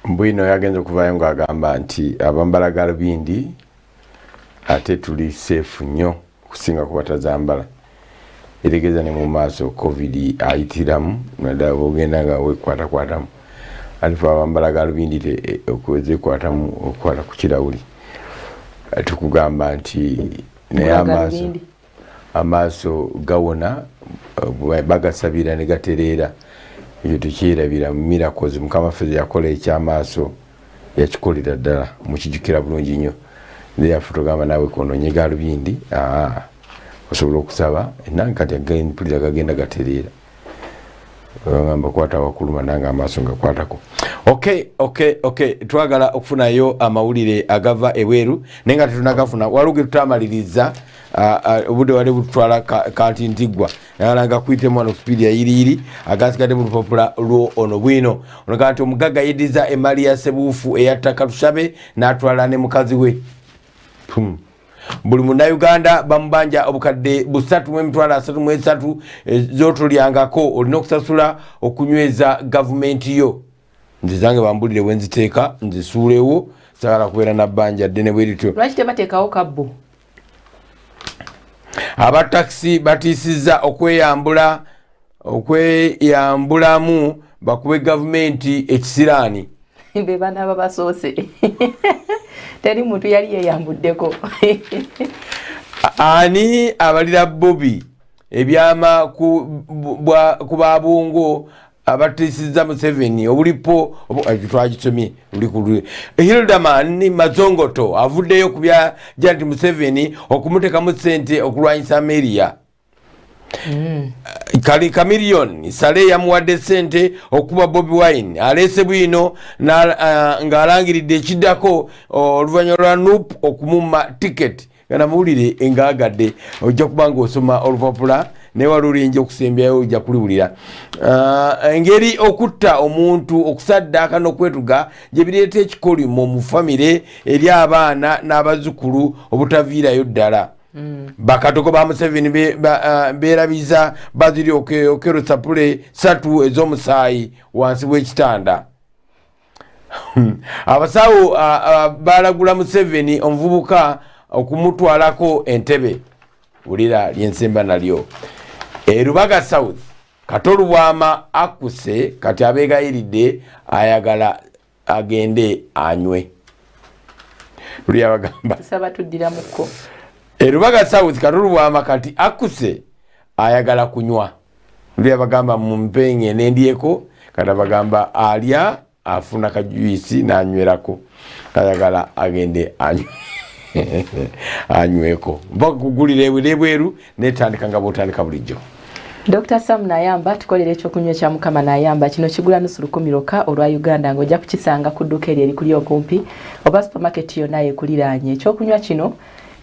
bwino yagenze okuvayo nga agamba nti abambala galubindi ate tuli safe nnyo okusinga kubatazambala eregeza ne mu maaso covid ayitiramu nadala bogenda nga wekwatakwatamu alifa abambala galubindi eh, okwezekwatamu okukwata ku kirawuli tukugamba nti naye amaaso amaaso gawona bagasabira ne gatereera ekyo tukyerabira mu miracles mukama ffe yakola ekyamaaso yakikolera ddala mukijukira bulungi nnyo thereafore togamba naawe kononye galubindi osobola okusaba enange kati mpulira gagenda gatereera bagamba kwata wakuluma nange amaaso ngakwatako ok ok ok twagala okufunayo amawulire agava ebweru naye nga tetunagafuna waliwo getutamaliriza obudde wali bututwala kanti ntiggwa nagala nga kuyitemu wano supiidi yayiriyiri agasigadde mu lupapula lwo ono bwino ono kanti omugagga yeddiza emaali ya sebuufu eyattaka tushabe n'atwala ne mukazi we hmm. buli munauganda bamubanja obukadde busatu mwemitwalo asatu mwesatu eh, zotolyangako olina okusasula okunyweza gavumenti yo nze zange bambulire wenziteeka nzisuulewo sagala kubeera nabbanja ddene bwerityo lwaki tebateekawo kabbo abatakisi batiisizza okweyambula okweyambulamu bakube gavumenti ekisiraani bebanaba basoose teri muntu yali yeyambuddeko ani abalira bobi ebyama ku babungo abatisiza museveni obulipo eh, twagisomye ulikul hildaman mazongoto avuddeyo kubya janti museveni okumutekamu sente okulwanyisa ameria Mm. Kali Chameleon sale yamuwadde sente okuba Bobi Wine aleese bwino uh, ng'alangiridde ekiddako oluvannyuma lwa nup okumumma tiketi nga namawulire engaagadde ojja kuba ng'osoma olupapula newalulinja okusembyayo ojja kuliwulira uh, engeri okutta omuntu okusaddaaka n'okwetuga gye bireeta ekikolimo mu famire eri abaana n'abazzukulu obutaviirayo ddala Mm. bakadogo ba museveni uh, berabiza baziri okerosa pule satu ezomusaayi wansi wekitanda hmm. abasawo uh, uh, balagula museveni omuvubuka okumutwalako entebe wulira lyensemba nalyo erubaga south katolubwama akuse kati abegayiridde ayagala agende anywe luli abagamba tusaba tuddira muko erubaga south kalulu bwama kati akuse ayagala kunywa luli abagamba mumpenge nendyeko kati abagamba alya afuna kajuisi nanywerako ayagala agende anywe anyweko mpaka kugulira ebwere bweru naye tandika nga bwotandika bulijjo Dr. Sam Nayamba tukolera ekyokunywa ekya Mukama Nayamba kino kigula nusu lukumi lwokka olwa Uganda ng'ojja kukisanga ku dduuka eryo erikuli okumpi oba supermarket yonna ekuliraanye. Ekyokunywa kino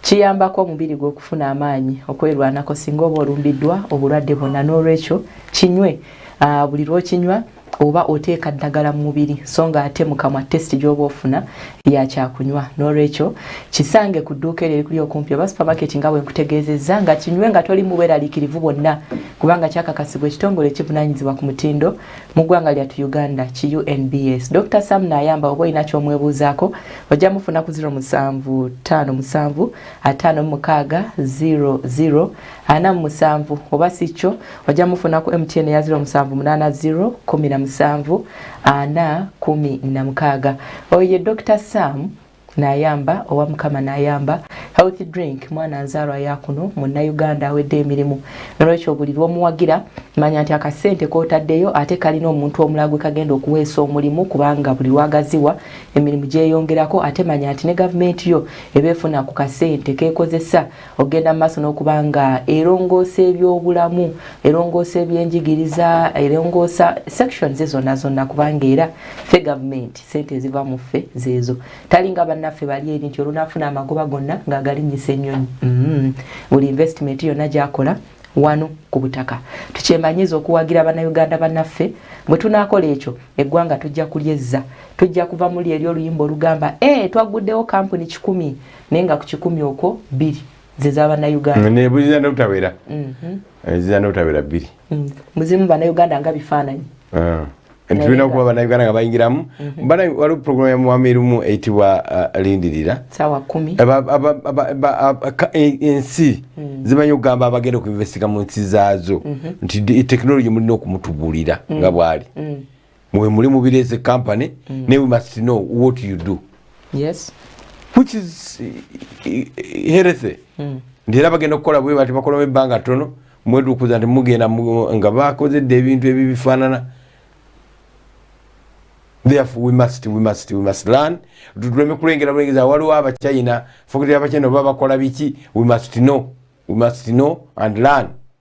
kiyambako omubiri gwe okufuna amaanyi okwerwanako singa oba olumbiddwa obulwadde bwonna n'olwekyo kinywe ah, buli lw'okinywa oba oteeka ddagala mu mubiri so nga ate mukamwa test gyoba ofuna yakyakunywa nolwekyo kisange ku dduuka eryo erikuli okumpi oba supermarket nga bwenkutegeezezza nga kinywe nga toli mubweralikirivu bwonna kubanga kyakakasibwa ekitongole ekivunanyizibwa ku mutindo mu ggwanga lyatu uganda ki unbs dr sam nayamba oba olina kyomwebuuzaako ojja mufuna ku 0757 56 00 47 oba si kyo ojja mufuna ku mtn ya 0780171416 oyo ye dr sam nayamba owa mukama nayamba healthy drink mwana nzaalwa yakuno munnauganda awedde emirimu nolwekyo buli lwomuwagira manya nti akasente kotaddeyo ate kalina omuntu omulala gwe kagenda okuweesa omulimu kubanga buli lwagaziwa emirimu gyeyongerako ate manya nti ne gavumenti yo eba efuna ku kasente kekozesa okugenda mu maaso n'okuba nga erongoosa ebyobulamu erongoosa ebyenjigiriza erongoosa sections zonna zonna kubanga era ffe gavumenti sente eziva mu ffe zeezo talinga bannaffe bali eri nti olunaafuna amagoba gonna ng'agalinnyisa ennyonyi mm-hmm. buli investment yonna gyakola wano ku butaka tukyemanyiza okuwagira bannayuganda bannaffe bwe tunaakola ekyo eggwanga tujja kulyezza tujja kuva muli eri oluyimba olugamba e eh, twagguddewo kampuni kikumi naye nga ku kikumi okwo bbiri ze za bannayuganda nebuziza nobutawera mhm. eziza nobutawera bbiri mm. muzimu bannayuganda nga bifaananyi ah. nti tulina okuba bannayuganda nga bayingiramu mhm. bana waliwo puroguramu ya mwami erumu eyitibwa uh, lindirira e, ensi mm. zimanyi okugamba abagenda okuinvestika mu nsi zaazo mhm. nti tekinologi mulina okumutubuulira mm. nga bwali mwe muli mu birezi company mm. ne we must know what you do yes which is eh, eh, healthy mm. ndera bagenda okukola bwe bati bakolamu ebbanga tono mwedukuza nti mugenda nga bakozedde ebintu ebyo bifaanana therefore we must we must we must learn tuleme kulengera bulengeza waliwo abachina fokitira abachina oba bakola biki we must know we must know and learn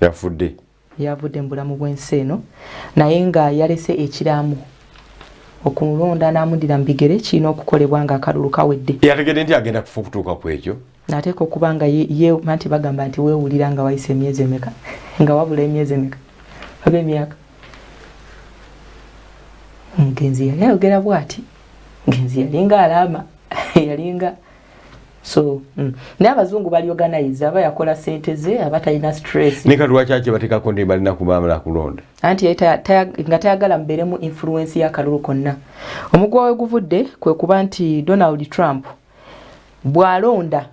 yafudde yavudde mu bulamu bw'ensi eno naye nga yalese ekiraamo okulonda n'amudira mu bigere kirina okukolebwa nga akalulu kawedde yategedde nti agenda kufa okutuuka ku ekyo nateeka okuba nga ye nti bagamba nti weewulira nga wayise emyezi emeka nga wabula emyezi emeka oba emyaka omugenzi yali ayogera bwati ngenzi yalinga alaama yalinga so mm. naye abazungu bali organize aba yakola sente ze aba talina stress nika lwaki ake batekako ndi balina kubamala kulonda anti nga tayagala mubeeremu influence y'akalulu konna omugwa we guvudde kwe kuba nti donald trump bw'alonda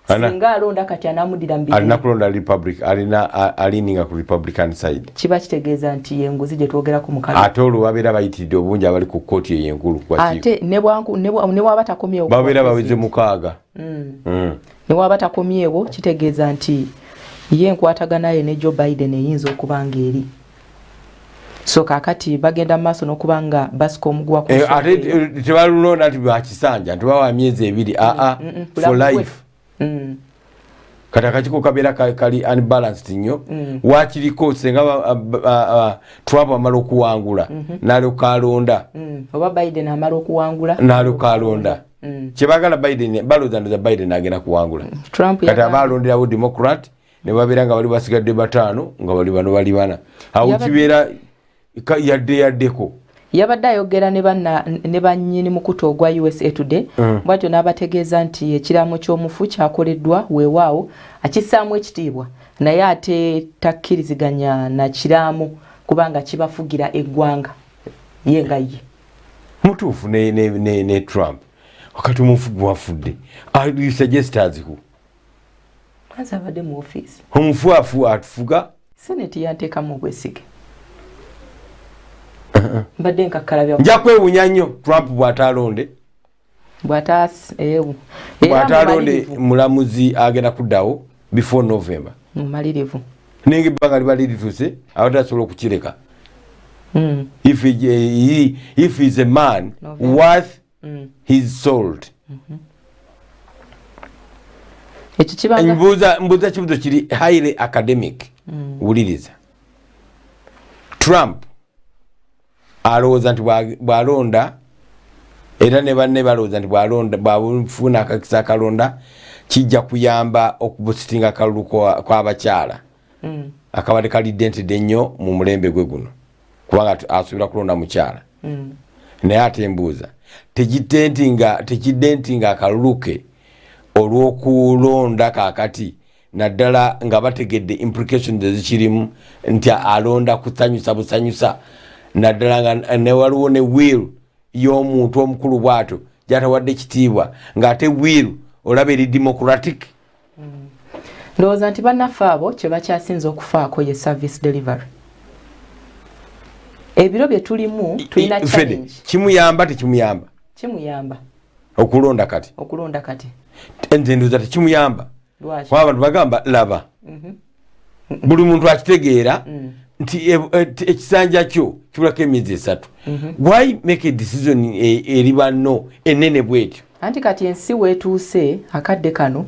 singa alonda kati anamudira mubirinakulonda republic alina alininga ku republican side kiba kitegeeza nti yenguzi gye twogerako mukalo ate olwo babeera bayitiridde obungi abali ku kkooti eyo enkulu ate newaba takomyewo babeera baweze mukaaga mm. Mm. newaba takomyewo kitegeeza nti ye enkwataganaye ne joe biden eyinza okuba nga eri so kakati bagenda mu maaso n'okuba nga basika omuguwa eh, ate eh, tebalulonda nti bakisanja nti bawa myezi ebiri aa mm, for life mm. kati akakiko kabeera kali unbalanced nnyo mm. wakiriko senga trump amala okuwangula mm -hmm. nalyoka alonda mm. oba biden amala okuwangula nalyoka alonda mm. kyebagala biden balozandoza biden agenda kuwangula mm. trump kati aba alonderawo democrat nebabeera nga bali basigadde bataano nga bali bano bali bana awo kibeera yadde yaddeko yabadde ayogera ne bannyini mukutu ogwa usa today mm. bwatyo n'abategeeza nti ekiraamo ky'omufu kyakoleddwa weewaawo akissaamu ekitiibwa naye ate takkiriziganya na kiraamo kubanga kibafugira eggwanga ye nga ye mutuufu ne trump wakati omufu gwafudde suggestas who Mwanza abadde mu office. Omufuafu atufuga. Senate yantekamu obwesige. Uh-huh. Mbadde nkakkala bya. Nja kwewunya nnyo Trump bw'ataalonde. Bw'ataas ewu. Eh, bw'ataalonde mulamuzi agenda kuddawo before November. Mumalirivu. Ninga ebbanga liba lirituuse abatasobola okukireka. Mm. If, he, he, if he's a man no, worth mm. his sold mm-hmm. mbuuza kibuzo kiri highly academic mm. wuliriza trump alowooza nti bwalonda era ne banne balowooza nti bwalonda bwafuna akakisa akalonda kijja kuyamba okubusitinga akalulu kw'abakyala kwa mm. akabadde kalidde ntidde nnyo mu mulembe gwe guno kubanga asuubira kulonda mukyala mm. naye ate mbuuza tekidde nti nga tekidde nti nga akalulu ke olw'okulonda kakati naddala nga bategedde implication ezikirimu nti alonda kusanyusa busanyusa naddala nga newaliwo ne will y'omuntu omukulu bwatyo gyatawadde kitiibwa ng'ate will olaba eri democratic mm. ndowooza nti bannaffe abo kye bakyasinze okufaako ye service delivery ebiro bye tulimu tulina challenge kimuyamba tekimuyamba kimuyamba okulonda kati okulonda kati nze ndowooza tekimuyamba lwaki abantu bagamba laba mm -hmm. buli muntu akitegeera mm. nti e, e, ekisanja kyo kibulako emyezi esatu mhm. why make a decision e, eri banno enene bwetyo anti kati ensi wetuuse akadde kano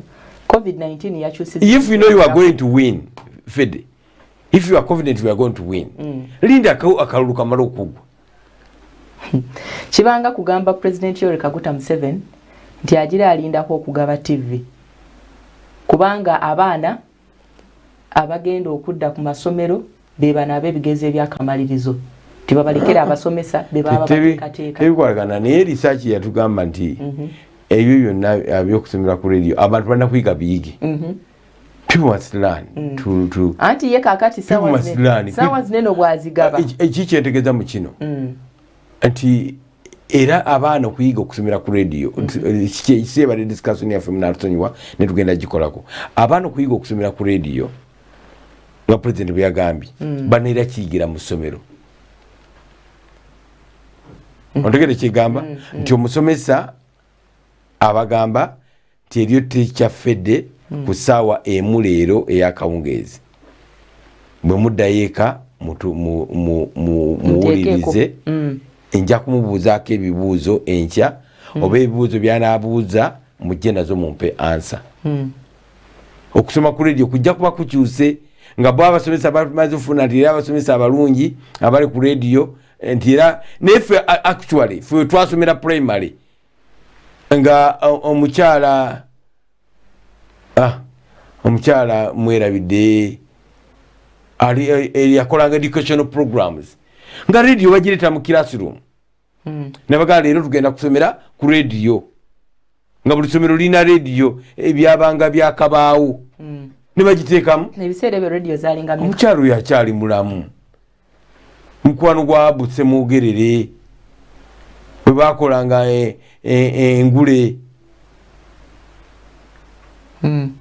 covid-19 yakyusiza if you know you are going to win fede if you are confident you are going to win mm. linda akalulu kamala okugwa kibanga kugamba president yoweri kaguta museven nti agira alindako okugaba tv kubanga abaana abagenda okudda ku masomero be bano ab'ebigezo ebyakamalirizo tebabalekera abasomesa be baba bateekateeka tebikolagana naye risaaki yatugamba nti mhm. ebyo byonna ah, byokusomera ku radio abantu balina kuyiga biyige mhm. mm. anti ye kakati sawa zineno bwazigaba ekikyentegeza mu kino mm. nti era abaana okuyiga okusomera ku radio mm-hmm. kikyebadde discussion yaffe munatusonyiwa netugenda gikolako abaana okuyiga okusomera ku radio nga president bweyagambye mm. banaera kiyigira mu ssomero mm-hmm. ontegere kyegamba mm-hmm. nti omusomesa abagamba kyebyo teacher fede mm. ku saawa emu leero eyakawungeezi bwe muddayo eka muwulirize mm. nja kumubuuzaako ebibuuzo enkya mm. oba ebibuuzo byanabuuza mujje nazo mumpe ansa mm. okusoma ku radio kujja kuba kukyuse nga bo abasomesa bamaze ofuna nti era abasomesa abalungi abali ku radio nti era naye fe actually fe twasomera primary nga omukyala ah, omukyala mwerabidde yakolanga educational programs nga radio bagireeta mu classroom hmm. nabagaa leero tugenda kusomera ku radio nga buli somero lirina radio ebyabanga eh, byakabaawo hmm. nebagiteekamu omukyala oyo akyali mulamu mukwano gwa butse mwogerere bwe bakolanga eh, eh, engule hmm.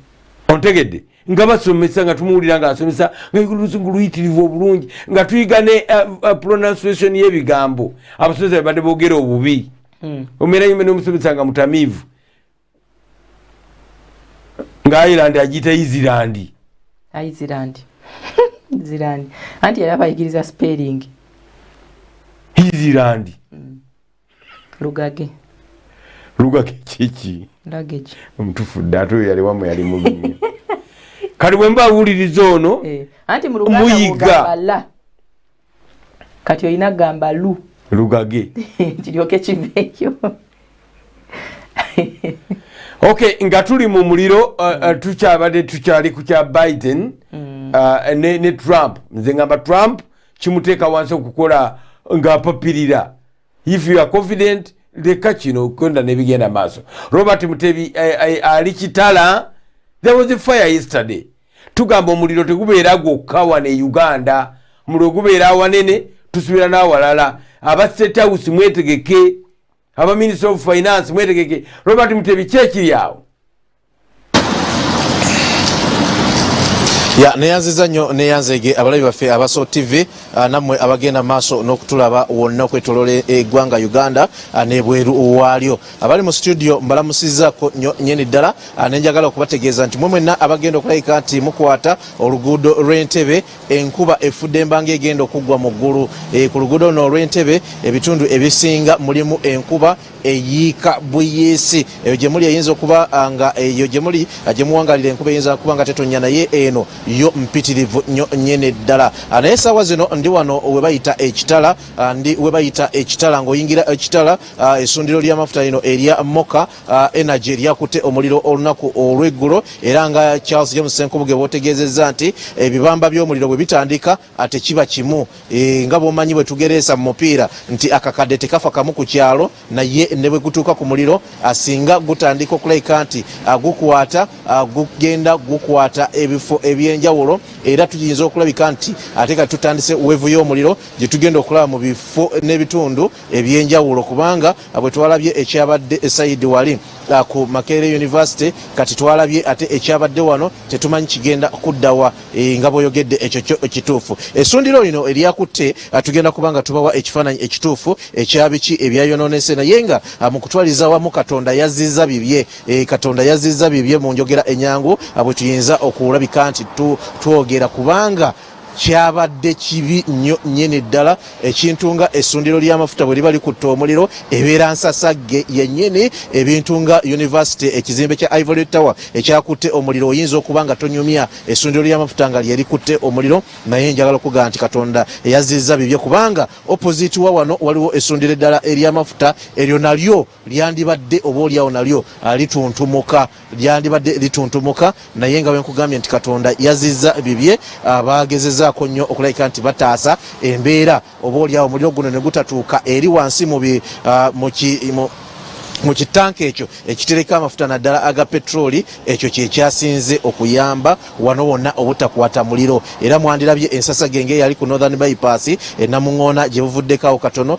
ontegedde nga basomesa nga tumuwulira nga asomesa nga oluzungu luyitirivu obulungi nga tuyiga ne eh, pronunciation y'ebigambo abasomesa bebadde boogera obubi hmm. omera yime nomusomesa nga mutamiivu nga ireland agiyita izirandi izirandi izirandi anti yali abayigiriza spelling izirandi mm. lugage lugage kiki omutufu dde ate oyo yaliwamu yali mulunyo kati bwe mba awuliriza ono eh, muyiga kati olina gamba lu lugage kiryoke kiveeyo ok nga tuli mu muliro uh, uh, mm. tukyabadde tukyali ku kya biden mm. uh, ne, ne trump nze ngamba trump kimuteeka wansi okukola ng'apapirira if you are confident leka kino kwenda nebigenda maaso robert mutebi eh, eh, ali kitala there was a fire yesterday tugamba omuliro tegubeera gwokka wano e uganda muliro gubeera awanene tusubira n'awalala aba state house mwetegeke aba minister of finance mwetegeke robert mutebi kyekiri awo ya neyanziza nnyo neyanzege abalabi baffe abaso tv ah, nammwe abagenda maaso n'okutulaba wonna okwetolola eggwanga uganda ah, nebweru waalyo abali mu situdiyo mbalamusizako nyo nyini ddala ah, nenjagala okubategeeza nti mwe mwenna abagenda okulayika nti mukwata oluguudo lw'entebe enkuba efudde embanga egenda okuggwa mu ggulu eh, ku luguudo luno olw'entebe ebitundu ebisinga mulimu enkuba eyiika buyiisi eyo gyemuli eyinza okuba ah, nga eyo gyemuli ah, gyemuwangalira enkuba eyinza kuba nga tetonya naye eno yo mpitirivu nyo nyini ddala naye esaawa zino ndi wano webayita ekitala ndi webayita ekitala ngaoyingira ekitala Ah, essundiro ly'amafuta lino erya moka ah, energy lyakutte omuliro olunaku olw'eggulo era nga charles james senkubuge bwotegeezezza nti ebibamba eh, by'omuliro bwe bitandika ate ah, kiba kimu eh, nga bwomanyi bwe tugereesa mu mupiira nti akakadde tekafa kamu ku kyalo naye ne bwe gutuuka ku muliro asinga gutandika okulabika nti gukwata gugenda gukwata ebifo eby'enjawulo era tuyinza okulabika nti ate ka tutandise wevu y'omuliro gye tugenda okulaba mu bifo n'ebitundu ebyenjawulo kubanga bwe twalabye ekyabadde esayidi wali uh, ku makerere university kati twalabye ate ekyabadde wano tetumanyi kigenda kuddawa e, nga bwoyogedde ekyo kyo ekituufu esundiro lino eryakutte uh, tugenda kubanga tubawa ekifaananyi ekituufu ekyabiki ebyayononese naye nga uh, mu kutwaliza wamu katonda yazizza bibye e, katonda yazizza bibye mu njogera enyangu bwe tuyinza okulabika nti twogera kubanga kyabadde kibi nnyo nnyini ddala ekintu nga essundiro ly'amafuta bwe liba likutte omuliro ebeera nsasagge yennyini ebintu nga univesity ekizimbe kya ivory tower ekyakutte omuliro oyinza okuba nga tonyumya essundiro ly'amafuta nga lyerikutte omuliro naye njagala okugamba nti katonda eyazzizza bibye kubanga opposite wa wano waliwo essundiro eddala ery'amafuta eryo nalyo lyandibadde oba olyawo nalyo ah, lituntumuka lyandibadde lituntumuka naye nga wenkugambye nti katonda yaziza bibye ah, bagezezaako nnyo okulabika nti bataasa embeera oba olyawo muliro guno ne gutatuuka eri wansi mu ah, mu kitanka ekyo ekitereko amafuta naddala aga petroli ekyo kyekyasinze okuyamba wano wonna obutakwata muliro era mwandirabye ensasa genge eyali ku northern bypass enamuŋoona gye buvuddeko awo katono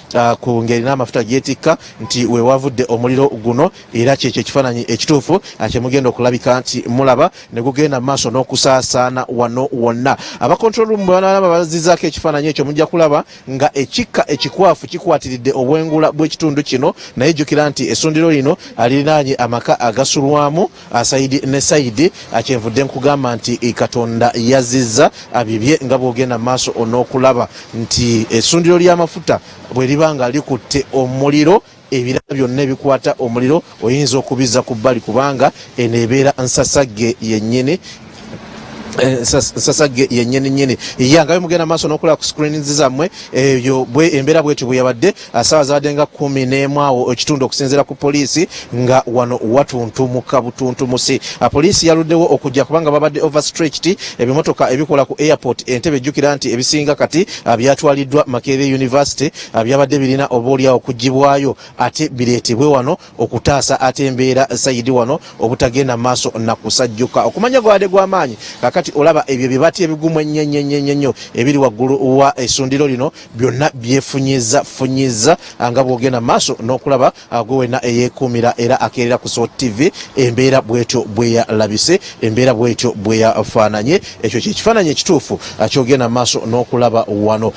uh, ku ngeri n'amafuta gyetikka nti wewavudde omuliro guno era kyekyo ekifaananyi ekituufu uh, kyemugenda okulabika nti mulaba ne gugenda mu maaso n'okusaasaana wano wonna abakontrolrumu bwebanalaba bazizaako ekifaananyi ekyo mujja kulaba nga ekikka ekikwafu kikwatiridde obwengula bw'ekitundu kino naye jjukira nti essundiro lino uh, lirinaanye amaka agasulwamu Ah, saidi ne saidi ah, kyenvudde nkugamba nti eh, katonda yazizza ah, bibye nga bwogenda maaso onokulaba nti esundiro lyamafuta bweriba nga likutte omuliro ebirala byonna ebikwata omuliro oyinza okubizza ku bbali kubanga eno ebeera nsasagge yennyini Eh, sasa yenyini nyini yangayo mugenda maso nokola ku screens zamwe eyo eh, bwe embera bweti buyabadde asawa ah, zadenga 10 nemwawo ekitundu okusinzira ku police nga wano watuntu mukabutuntu musi ah, police yaludewo okujja kubanga babadde overstretched ebimotoka ebikola ku airport entebe jukira nti ebisinga kati ah, byatwaliddwa makere university byabadde birina obolya okujibwayo ate biretebwe wano okutaasa ate embeera sayidi wano obutagenda maaso nakusajjuka okumanya gwabadde gwamaanyi kakati olaba ebyo bibati ebigumu ennyenyenyenyenyo ebiri waggulu wa esundiro lino byonna byefunyiza funyiza nga bwogenda maaso n'okulaba gwe wenna eyekuumira era akeerera ku so tv embeera bwetyo bweyalabise embeera bwetyo bweyafaananye ekyo kyekifaananyi ekituufu kyogenda maaso n'okulaba wano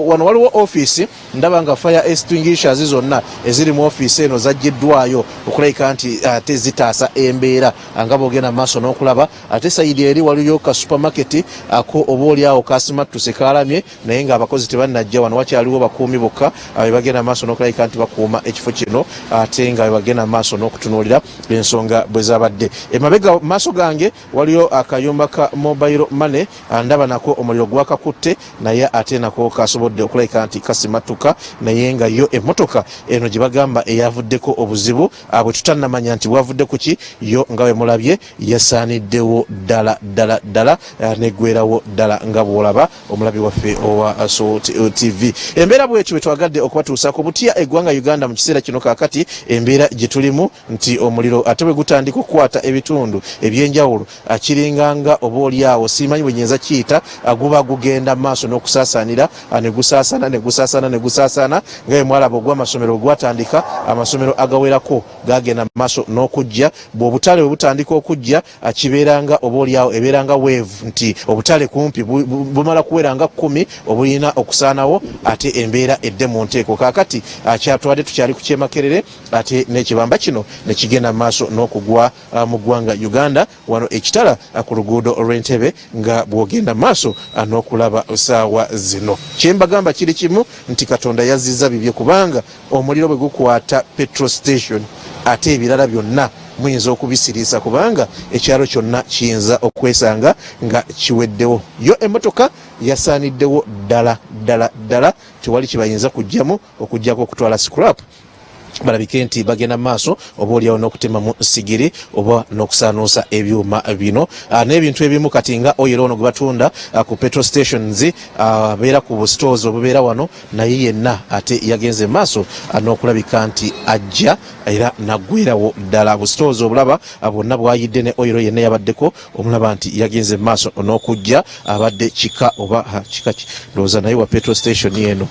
wano waliwo ofiisi ndaba nga fire extinguishers zonna eziri mu ofiisi eno zaggiddwayo okulabika nti eh, ate zitaasa embeera ah, nga bogenda maaso n'okulaba ate sayidi eri waliyo ka supermarket ako ah, oba oli awo kasimattuse kaalamye naye nga abakozi tebannajja wano wakyaliwo bakuumi bokka ah, bebagenda maaso n'okulabika nti bakuuma ekifo kino ate nga bebagenda maaso n'okutunuulira ensonga bwe zabadde emabega maaso gange Waliyo akayumba ka mobile money andaba nako omuliro gwakakutte naye ate nako kasobodde okulabika nti kasimattuka naye nga yo emmotoka eno gye bagamba eyavuddeko obuzibu abwe tutanamanya nti bwavudde kuki yo nga bwe mulabye yasaaniddewo ddala ddala ddala eh, negwerawo ddala nga bwolaba omulabi waffe owa eh, so eh, tv embeera bwetyo bwetwagadde okubatuusaako butya eggwanga uganda mu kiseera kino kakati embeera gye tulimu nti omuliro ate bwe gutandika okukwata ebitundu eby'enjawulo akiringa nga oba oli awo siimanyi bwe nyinza kiyita guba gugenda maaso n'okusaasaanira ne gusaasaana ne gusaasaana ne gusaasaana nga bwe mwalaba ogw'amasomero bwe gwatandika amasomero agawerako gagenda mu maaso n'okujja bw'obutale bwe butandika okujja kibeera nga oba oli awo ebeera nga weevu nti obutale kumpi bumala kuwera nga kkumi obulina okusaanawo ate embeera edde mu nteeko kaakati akyatwade tukyali ku kyemakerere ate n'ekibamba kino ne kigenda mu maaso n'okugwa mu ggwanga Uganda wano e Kitala ku luguudo lw'e Ntebe nga bw'ogenda mu maaso n'okulaba ssaawa zino. Kye mbagamba kiri kimu nti Katonda yazzizza bibye kubanga omuliro bwe gukwata Petro Station ate ebirala byonna muyinza okubisiriisa kubanga ekyalo kyonna kiyinza okwesanga nga kiweddewo. Yo emmotoka yasaaniddewo ddala ddala ddala tewali kye bayinza kuggyamu okuggyako okutwala scrap. balabike nti bagenda maaso oba olyawo n'okutemamu sigiri oba n'okusaanuusa ebyuma bino ah, n'ebintu ebimu kati nga oyero ono gwe batunda ah, ku petro stations ah, abeera ku busitoozi obubeera wano naye yenna ate yagenze maaso n'okulabika nti ajja era naggwerawo ddala busitoozi obulaba bwonna bwayidde ne oyero yenna yabaddeko omulaba nti yagenze maaso n'okujja abadde kika oba kika ndowooza naye wa petro station eno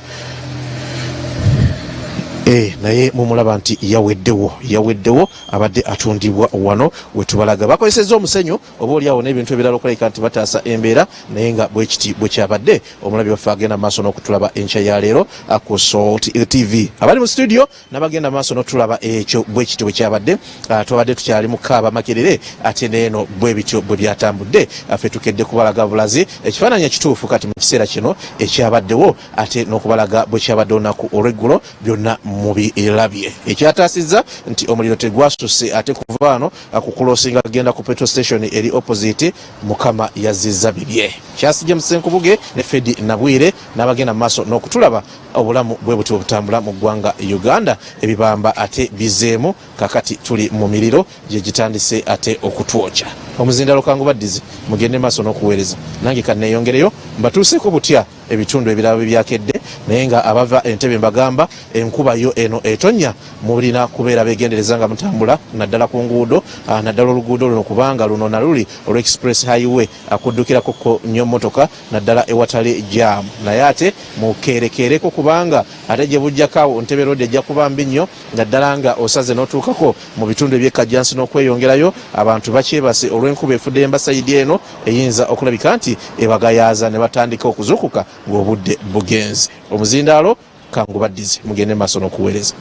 e, naye mumulaba nti yaweddewo yaweddewo abadde atundibwa wano wetubalaga bakozeseza omusenyu oba oliawo n'ebintu ebirala okulabika nti bataasa embeera naye nga bwekiti bwekyabadde omulabi waffe agenda maaso n'okutulaba enkya ya leero ku salt tv abali mu studio nabagenda maaso notulaba ekyo bwekityo bwekyabadde ah, twabadde tukyali mukaaba makerere ate neeno bwebityo bwe byatambudde ah, fe tukedde kubalaga bulazi ekifaananyi ekituufu kati mu kiseera kino ekyabaddewo ate n'okubalaga bwekyabadde olunaku olweggulo byonna mubilabye ekyataasizza nti omuliro tegwasuse ate kuva ano ah, kukuloosinga agenda ku petro station eri opposite mukama yazizza bibye kyasijja musenkubuge ne fedi nabwire n'abagenda mu maaso n'okutulaba Obulamu bwe butyo obutambula mu ggwanga Uganda, ebibamba ate bizzeemu, kaakati tuli mu miriro gye gitandise ate okutwokya. Omuzindaalo kangubaddize mugende maaso n'okuweereza, nange kanneeyongereyo mbatuuseeko butya ebitundu ebirala bwe byakedde, naye nga abava e Ntebe mbagamba enkuba yo eno etonnya mulina kubeera beegendereza nga mutambula naddala ku nguudo, naddala oluguudo luno kubanga luno na luli olwa Express Highway, kuddukirako ko nnyo mmotoka. naddala ewatali jam naye ate mukeerekeereko kubanga ate gye bujjako awo Ntebe Road ejja kuba mbi nnyo naddala nga osaze n'otuukako mu bitundu eby'e Kajjansi n'okweyongerayo abantu bakyebase olw'enkuba efudde emba sayidi eno eyinza okulabika nti ebagayaaza ne batandika okuzuukuka ng'obudde bugenze omuzindaalo kangubaddize mugende maaso n'okuweereza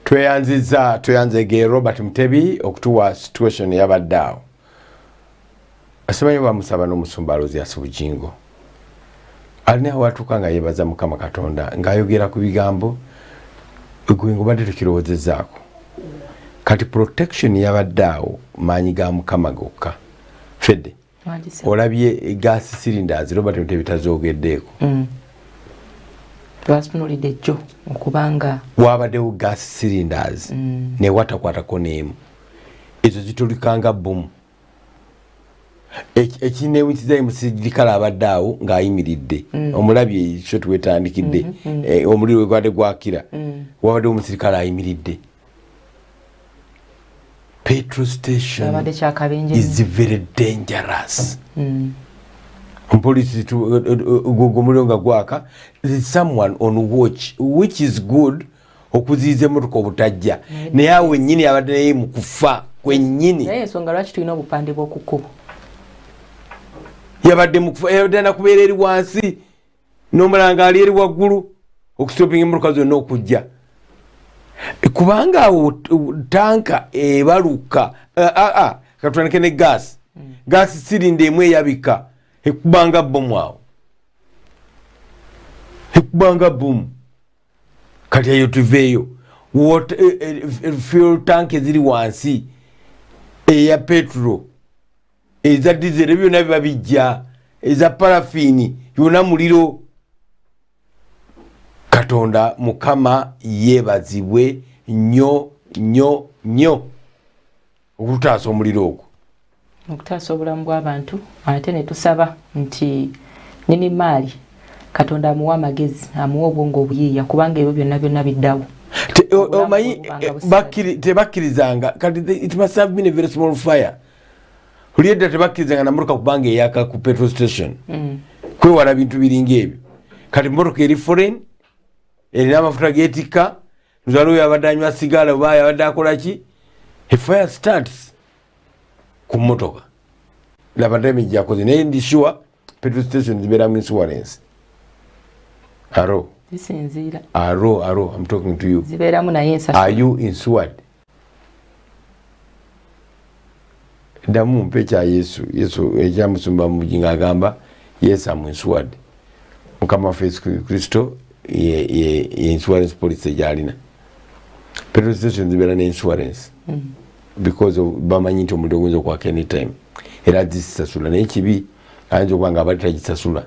tweyanziza tweyanzege robert mutebi okutuwa situation yabadde awo asemanyo bamusaba n'omusumba alozi asi bujingo alina watuuka nga yebaza mukama katonda ng'ayogera ku bigambo gwe ngobadde tukirowoozezaako kati protection yabadde awo maanyi ga mukama gokka fedde olabye gas cylinders robert nte bitazogeddeeko mm. twasitunulidde ejjo okubanga wabadewo gas cylinders mm. newatakwatako neemu ezo zitulika nga bbomu ekinewukiza emusirikale abadde awo ng'ayimiridde mm. omulabye ekyo twetandikidde mm-hmm, mm. eh, omuliro wegwade gwakira mm. wabadde omusirikale ayimiridde petro station is very dangerous mpolisi gugumuliro nga gwaka someone on watch which is good mm. okuziiza emotoka obutajja naye awo wenyini abadde naye mukufa kwenyini ensonga lwaki tulina obupande bwokukubo yabadde mukufa yabadde anakubeera eri wansi nomulanga ali eri waggulu okustopinga emotoka zonna okujja kubanga awo tanka ebaluka eh, ah, ah, katwanike ne gas mm. gas sirinda emu eyabika ekubanga bomu awo ekubanga bomu kati eyo tuveeyo eh, eh, eh, fuel tank eziri wansi eya petro eza dizero byona biba bijja eza parafini yona muliro katonda mukama yebazibwe nyo nyo nyo okutaasa omuliro ogwo okutaasa obulamu bw'abantu ate ne tusaba nti nini maali katonda amuwa amagezi amuwa obwongo obuyiiya kubanga ebyo byonna byonna biddawo omanyi tebakkirizanga kati it must have been a very small fire oli edda tebakkirizanga namotoka kubanga eyaka ku petrol station mm. kwewala bintu biringa ebyo kati motoka eri foreign erina amafuta getikka nzala oyo abadde anywa sigala oba abadde akola ki he fire starts ku motoka laba damage yakoze naye ndi sure petrol station zibeeramu insurance aro aro aro am talking to you zibeeramu naye ensasa are you insured ddamu mpa ekya yesu yesu ekyamusumba eh, mubugi nga agamba yesu amunsuwadde mukama waffe yesu kristo insurance policy gyalina petrol station zibeera ne insurance mm. because bamanyi nti omuliro guyinza okwaka anytime era zisasula naye kibi ayinza okuba nga abali tagisasula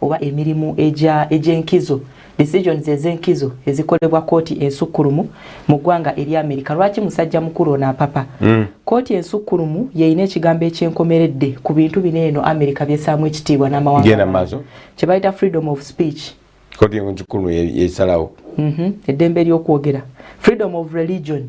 oba emirimu egy'enkizo decisions ez'enkizo ezikolebwa kkooti ensukkulumu mu ggwanga erya amerika lwaki musajja mukulu ono apapa hmm. kkooti ensukkulumu yeyina ekigambo ekyenkomeredde ku bintu bino eno amerika byesaamu ekitiibwa n'amawanga kye bayita freedom of speech kkooti ensukkulumu yesalawo mhm. eddembe ery'okwogera freedom of religion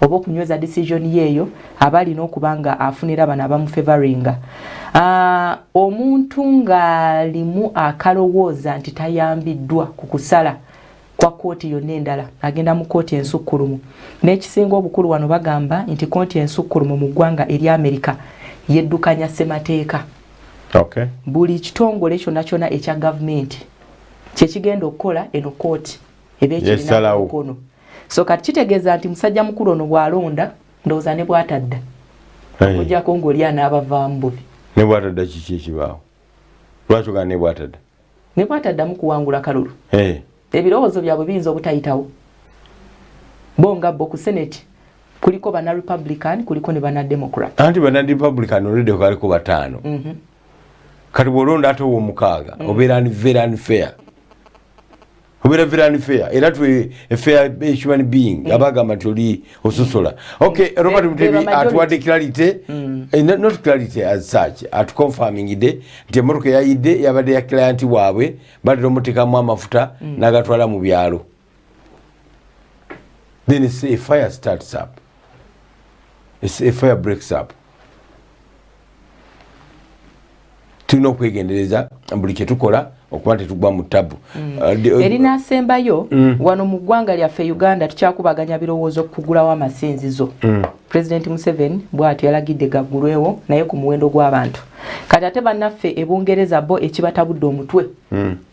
oba okunyweza decision ye eyo aba alina okuba nga afunira bano abamufevaringa ah, omuntu ng'alimu akalowooza nti tayambiddwa ku kusala kwa kkooti yonna endala agenda mu kkooti ensukkulumu n'ekisinga obukulu wano bagamba nti kkooti ensukkulumu mu ggwanga erya amerika yeddukanya ssemateeka okay. buli kitongole kyonna kyonna ekya gavumenti kyekigenda okukola eno kkooti eba ekirinakono yes, so kati kitegeeza nti musajja mukulu ono bwalonda ndowooza ne bwatadda okujako ngaoli anaabavaamu bubi ne bwatadda kiki ekibaawo lwaki ogana ne bwatadda ne bwataddamu kuwangula kalulu eh. ebirowoozo byabwe biyinza obutayitawo bo nga bo ku senate kuliko bana republican kuliko ne bana democrat anti bana republican olede kwaliko bataano mm -hmm. kati bwolonda ate owomukaaga mm -hmm. obeera ni very unfair obeera very unfair era twe a fair human being mm. abagamba nti oli ososola okay mm. robert mutebi atuwadde clarity mm. eh, not clarity as such at confirming de nti emotoka eyayidde yabadde ya client waabwe batera omutekamu amafuta mm. nagatwala mu byalo then it's a fire starts up it's a fire breaks up tulina okwegendereza buli kyetukola okuba tetugwa mu tabu mm. uh, uh, erinasembayo mm. wano mu ggwanga lyaffe uganda tukyakubaganya birowoozo kugulawo amasinzizo mm. president museven bwati yalagidde gaggulwewo naye ku muwendo gw'abantu kati ate bannaffe e bungereza bo ekibatabudde omutwe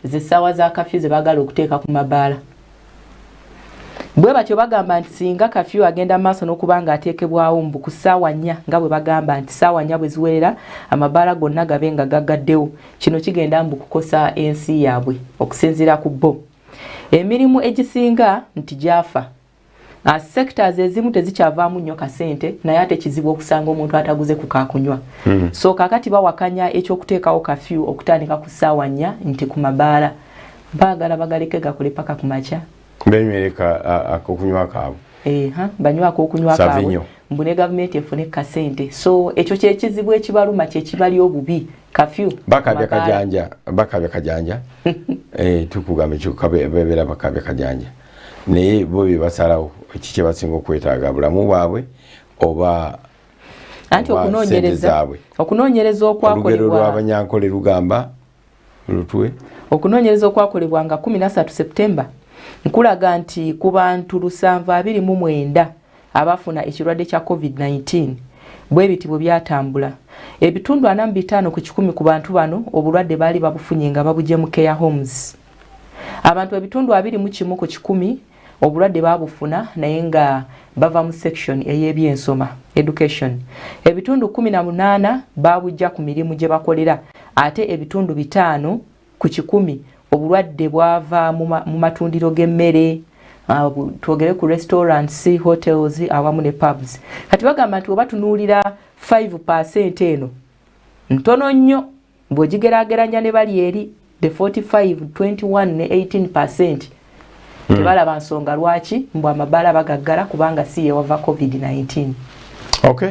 zessaawa za kafyu ze bagala okuteeka ku mabaala Bwe batyo bagamba nti singa kafyu agenda maaso n'okuba ng'ateekebwawo mbu ku ssaawa nnya nga bwe bagamba nti ssaawa nnya bwe ziwerera amabaala gonna gabe nga gaggaddewo kino kigenda mbu kukosa ensi yaabwe okusinziira ku bo emirimu egisinga nti gyafa ah, sectors ezimu tezikyavaamu nnyo kasente naye ate kizibu okusanga omuntu ataguze ku kakunywa hmm. so kakati bawakanya ekyokuteekawo kafyu okutandika ku ssaawa nnya nti ku mabaala Baagala bagaleke gakule paka ku makya. Benywereka akokunywa kaabwe. Eha, banywa akokunywa kaabwe. Mbu ne gavumenti efune kasente. So ekyo kyekizibu ekibaluma kyekibali obubi. Kafyu. Bakabya kajanja, bakabya kajanja. eh tukugamba ekyo kabe bebera bakabya kajanja. Naye bo bibasalawo kikye basinga okwetaaga bulamu bwabwe oba anti okunoonyereza okunoonyereza okwakolebwa olugero lw'abanyankole lugamba Lutwe. Okunoonyereza okwakolebwa nga 13 September nkulaga nti ku bantu lusanvu abiri mu mwenda abafuna ekirwadde kya COVID-19 bwe biti bwe byatambula. Ebitundu ana mu bitaano ku kikumi ku bantu bano obulwadde baali babufunye nga babugye mu care homes. Abantu ebitundu abiri mu kimu ku kikumi obulwadde baabufuna naye nga bava mu section ey'ebyensoma education ebitundu kumi na munaana baabujja ku mirimu gye bakolera ate ebitundu bitaano ku kikumi obulwadde bwava mu matundiro g'emmere ah, twogere ku restaurants hotels awamu ne pubs kati bagamba nti oba tunuulira 5 percent eno ntono nnyo bw'ogigeraageranya ne bali eri the 45 21 ne 18 percent hmm. tebalaba nsonga lwaki mbu amabaala bagaggala kubanga si yewava covid-19 okay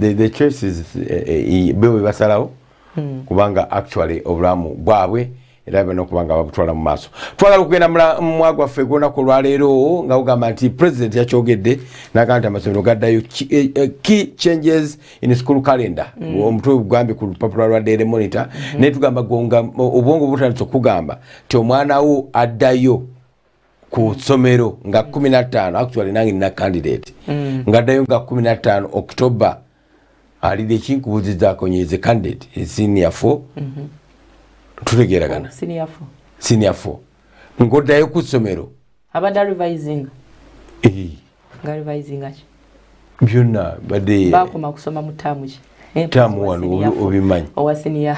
the, the choices eh, eh, be bwe basalawo hmm. kubanga actually obulamu bwabwe era bano okuba nga bagutwala mu maaso twagala okugenda mwa gwaffe gwonaku olwaleero nga ugamba nti president yakyogedde naga nti amasomero gaddayo key eh, eh, changes in school calendar mm. omutwe ogugambye ku lupapula lwa daily monitor mm-hmm. naye tugamba gonga obwongo butandisa okugamba ti omwana wo addayo ku somero nga 15 mm. actually nange nina candidate mm. nga dayo nga 15 october ali de kinkubuziza ko nyeze candidate e senior 4 mhm. tulegera kana senior 4 senior 4 ngodayo ku somero abada revising eh nga revising ati byonna badde bakoma kusoma mu taamu ki eh, taamu wano obimanyi owasiniya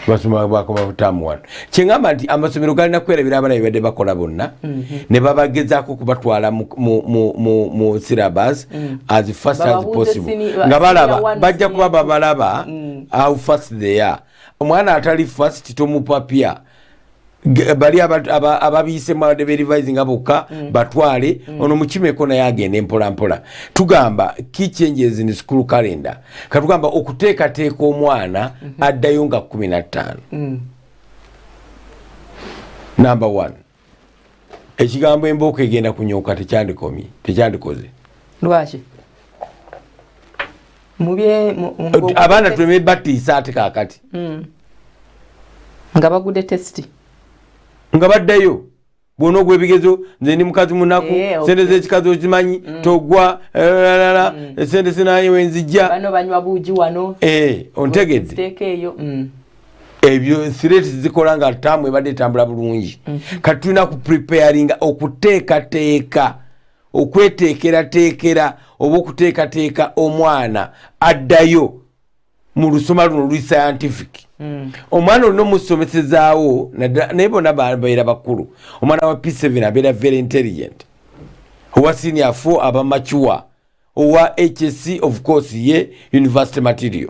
basoma bakoma mu taamu wano kyengamba nti amasomero galina kwerabira abana bebadde bakola bonna mhm. ne babagezaako okubatwala mu syllabus mm. as fast as possible nga balaba bajja kuba babalaba mm. how fast they are omwana atali fast tomupapya bali ababiise mawade berivise nga bokka mm. batwale mm. ono mukimeko naye agende mpolampola tugamba key changes in school calendar katugamba okuteekateeka omwana mm -hmm. addayo nga kumi nattaano mm. number one ekigambo embooko egenda kunyooka tekyandikomye tekyandikoze lwaki abaana tuleme batiisa ate kakati hmm. nga bagude testi nga baddayo bwona ogwebigezo nze ndi mukazi munaku eh, sente zekikazi okimanyi hmm. togwa lalala hmm. sente sinaye wenzijja ontegedde ebyo threat zikola nga tamu ebadde etambula bulungi mm -hmm. kati tulina ku preparinga okuteekateeka okweteekerateekera oba okuteekateeka omwana addayo mu lusoma luno luli scientific mm. omwana olina omusomesezaawo naye bona babeera bakulu omwana wa p7 abeera very intelligent owa senior fo aba macuwa owa hsc of course ye university material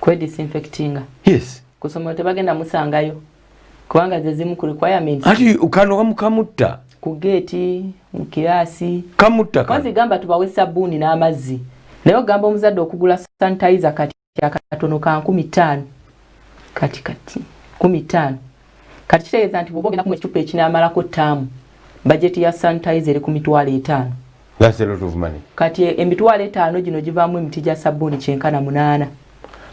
kwe disinfectinga yes kusoma tebagenda musangayo kubanga ze zimu ku requirements ati ukano wamukamutta ku gate mu kirasi kamutta kazi gamba tubawe sabuni n'amazzi naye ogamba omuzadde okugula sanitizer kati akatono ka nkumi ttaano kati kati kumi ttaano kati kitegeeza nti bwoba ogenda kumu ekicupa ekinamalako ttaamu bajeti ya sanitizer eri ku mitwalo etaano That's a lot of money. Kati emitwalo etaano gino givaamu emiti gya sabbuuni kyenkana munaana.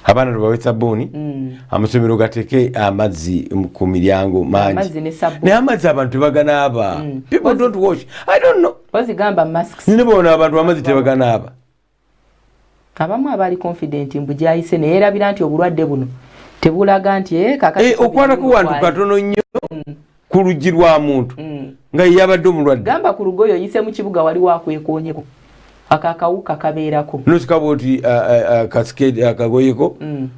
Abaana lubawe sabbuuni mm. amasomero gateeke amazzi ku miryango mangi naye amazzi abantu tebaganaaba mm. people don't wash I don't know. Ozigamba masks. Nine boona abantu amazzi tebaganaaba. abamu abaali confident mbu gyayise ne yeerabira nti obulwadde buno tebulaga nti eh, eh, okwana kuwantu katono nnyo mm. ku luggi lwa muntu mm. nga yeyabadde omulwadde gamba ku lugoyo oyise mu kibuga wali wakwekonyeko ako akawuka kabeerako nosikaba oti kasikedi uh, uh, uh, akagoyeko mm.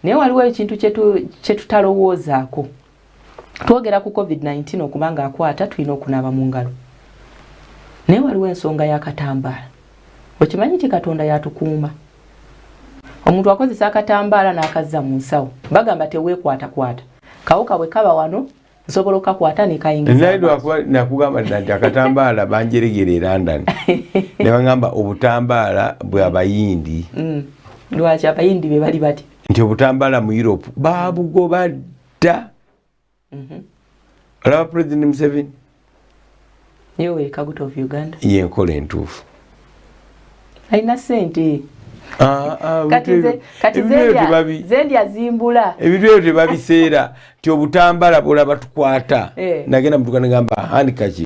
naye waliwo ekintu kyetutalowoozaako twogera ku covid-19 okuba nga akwata tulina okunaaba mu ngalo naye waliwo ensonga yakatambaala okimanyi ti katonda yatukuuma omuntu akozesa akatambaala n'akazza mu nsawo bagamba teweekwatakwata kawuka bwe kaba wano nsobola okakwata nekainginakugamba nti akatambaala banjeregera e london nebagamba obutambaala bwabayindi mm. lwaki abayindi bebali bati nti obutambala mu europe babugoba dda mhm. olaba president museveni yenkola entuufu alina sente ah, ah, ebintu ebyo tebabiseera nti obutambala bwolaba tukwata eh. nagenda mutuka negamba handkaki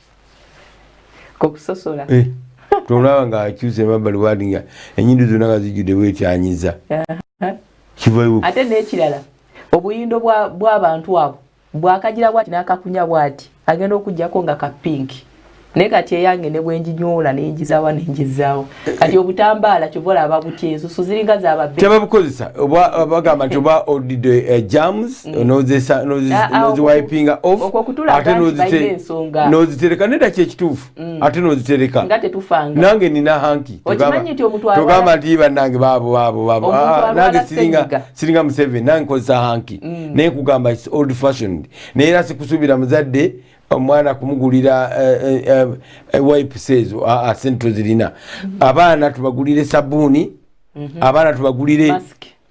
kokusosola eh, tolaba nga akyuse emabbali wadi nga enyindo zonna nga zijjudde bwetyanyiza ate nekirala obuyindo bwabantu abo bwakagira bwati nakakunya bwati agenda okujjako nga kapinki naye kati eyange nebwenjinyoola nenjizawa nenjizaawo kati obutambaala kyova olaba butya ensusu ziringa zababbe tebabukozesa oba bagamba nti oba odido eh, jams mm. noziwipinga ah, ah, offate nozitereka neda kyekituufu mm. ate nozitereka nange nina hanki togamba nti banange babobabobnange ah, siringa museven nange kozesa hanki mm. naye kugamba old fashioned naye era sikusuubira muzadde omwana kumugulira eh, eh, eh, wipes ezo ah, ah, sente tozirina mhm. abaana tubagulire sabuuni mhm. abaana tubagulire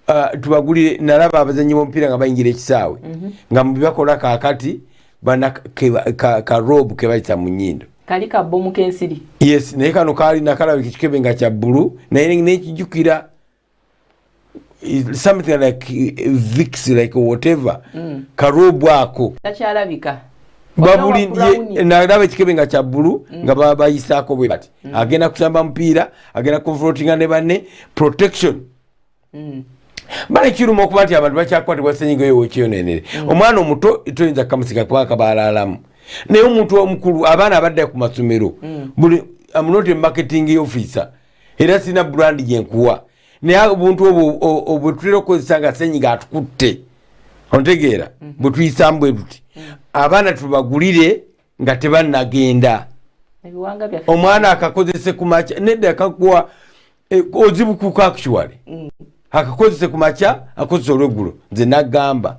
ah, tubagulire nalaba abazanyi bomupiira nga bayingira ekisaawe mhm. nga mubibakola kakati bana karobu kebayita mu nyindo kali kabomu kensiri yes naye kano kali nakalabika kikebe nga kya bbulu naye nekijukira something like eh, vix like whatever mm. karobu ako takyalabika nalaba ekikebe nga kyabbulu mm. nga babayisaako bwe bati mm. agenda kusamba mupiira agenda confrontinga ne banne protection mm. bale kiruma okuba nti abantu bakyakwatibwa senyiga oyo wekyonenere mm. omwana omuto toyinza kukamusiga kuba kabaalaalamu naye omuntu omukulu abaana abadda ku masomero mm. buli amunoti marketing officer era sirina brand gyenkuwa naye obuntu obwo bwetutera okukozesa nga senyiga atukutte ontegeera mhm. bwetuyisamu bwe tuti mhm. abaana tubagulire nga tebanagenda omwana akakozese kumakya nedda akakuwa e, ozibukuka actually mm. akakozese kumakya akozesa olweggulo nze nagamba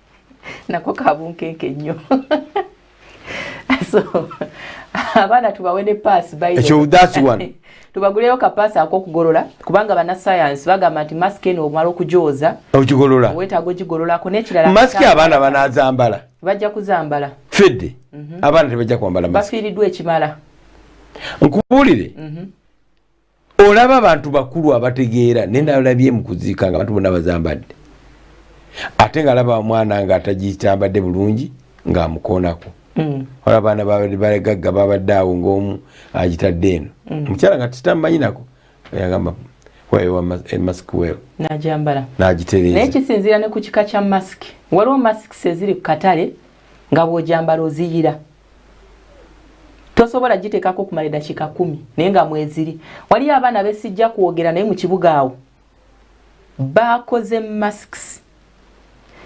nako kabunkenke nnyo so abaana tubawe ne paasi tubaguleyo kapaasi akokugolola kubanga banasayansi bagamba nti masiki eno omala okugyoza ogigolola wetaaga ogigololako nekirala masiki abaana banazambala bajja kuzambala fedde mhm. abaana tebajja kwambala bafiiriddwa ekimala nkubuulire mhm. olaba abantu bakulu abategeera naye nalabye mukuziika nga abantu bona bazambadde ate nga alaba omwana nga atagitambadde bulungi ngaamukoonako mm. ola abaana bagagga babadde awo ngaomu agitadde eno mm. omukyala nga titamanyinako yagamba nagiterenaye kisinzira ne ku kika kya masiki waliwo masiki eziri ku katale nga bwojambala oziyira tosobola giteekako kumala eddakiika kumi naye nga mweziri waliyo abaana besijja kwogera naye mu kibuga awo bakoze masks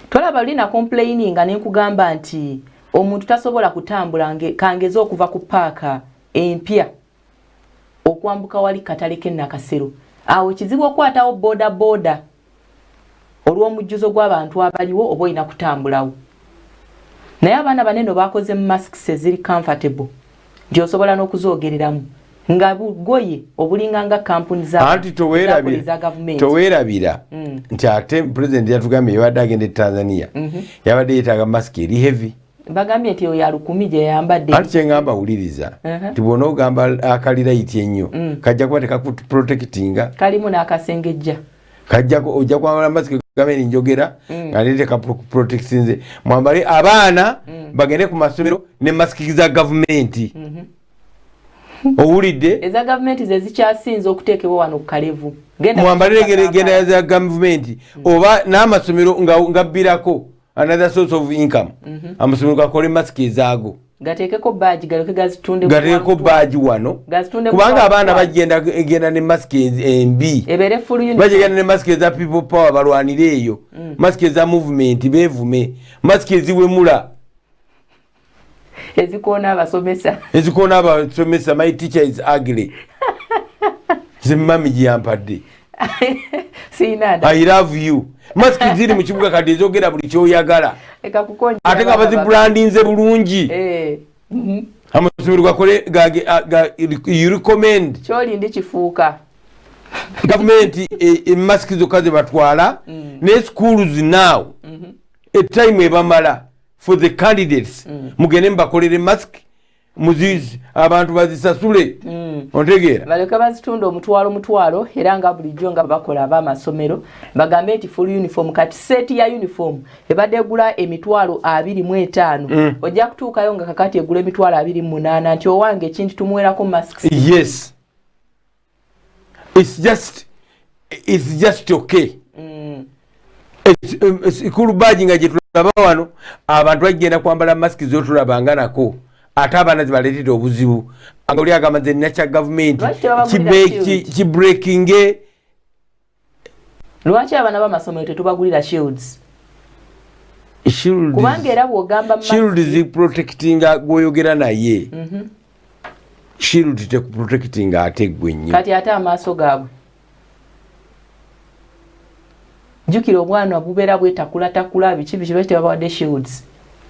tolaba luli na complaininga ne nkugamba nti omuntu tasobola kutambula kangeze okuva ku paaka empya okwambuka wali katale kennakasero awo kizibu okwatawo boda boda olw'omujjuzo gw'abantu abaliwo oba olina kutambulawo naye abaana bane no bakoze masks eziri comfortable nti osobola n'okuzoogereramu nga bugoye obulinga nga kampuni zaanti towerabira mm. nti ate pulezidenti yatugambye yabadde agenda e tanzania mm -hmm. yabadde yetaaga masiki eri heavy bagambye nti oyo alukumi gyeyambadde ati kyengamba wuliriza nti bwona ogamba akalira iti ennyo mm. kajja kuba tekakuprotectinga kalimu n'akasengejja kajjako ojja kwambala masiki gabeni njogera mm. nga nete kaprotectinze mwambale abaana mm. bagende ku masomero ne masiki za gavumenti mm-hmm. owulidde eza gavumenti zezikyasinze okuteekebwa wano ku kalevu mwambalire genda za gavumenti oba n'amasomero nga gabbirako another source of income mm -hmm. amasomero gakole masiki ezaago gateekeko baagi galoke gazitunde gateekeko baagi wano kubanga abaana bagenda genda ne masiki embi bagenda ne masiki eza people power balwanire eyo mm. masiki eza movement bevume masiki eziwemula ezikoona abasomesa ezikoona abasomesa my teacher is ugly nze mami gyeyampadde i love you masiki ziri mu kibuga kati ezogera buli kyoyagala ate nga bazibrandinze bulungi eh, mhm. amasomero gakole recommend kyolindi kifuuka gavumenti emasiki e, zokka zebatwala mm. ne schools now mm-hmm. etime ebamala for the candidates mm. mugende mubakolere mask muzizi abantu bazisasule mm. ontegeera baleka bazitunda omutwalo mutwalo era nga bulijjo nga bakola abamasomero bagambe nti full uniform kati seti ya uniform ebadde egula emitwalo abiri mu etaano mm. ojja kutuukayo nga kakati egula emitwalo abiri mu munaana nti owange ekintu tumuwerako masks yes it's just it's just okay mm. ekikulu baji nga gyetulaba wano abantu bagenda kwambala masiki zotulabanga nako ate abaana zibaletera obuzibu nga oli agamba nze nakya gavumenti kibrekinge lwaki abana bamasomero tetubagulira shields kubanga era bwogamba shields protectinga gwoyogera naye mm -hmm. shield tekuprotectinga ate gwe nnyo kati ate amaaso gaabwe jukira obwana bubeera bwetakulatakula biki biki baki tebabawadde shields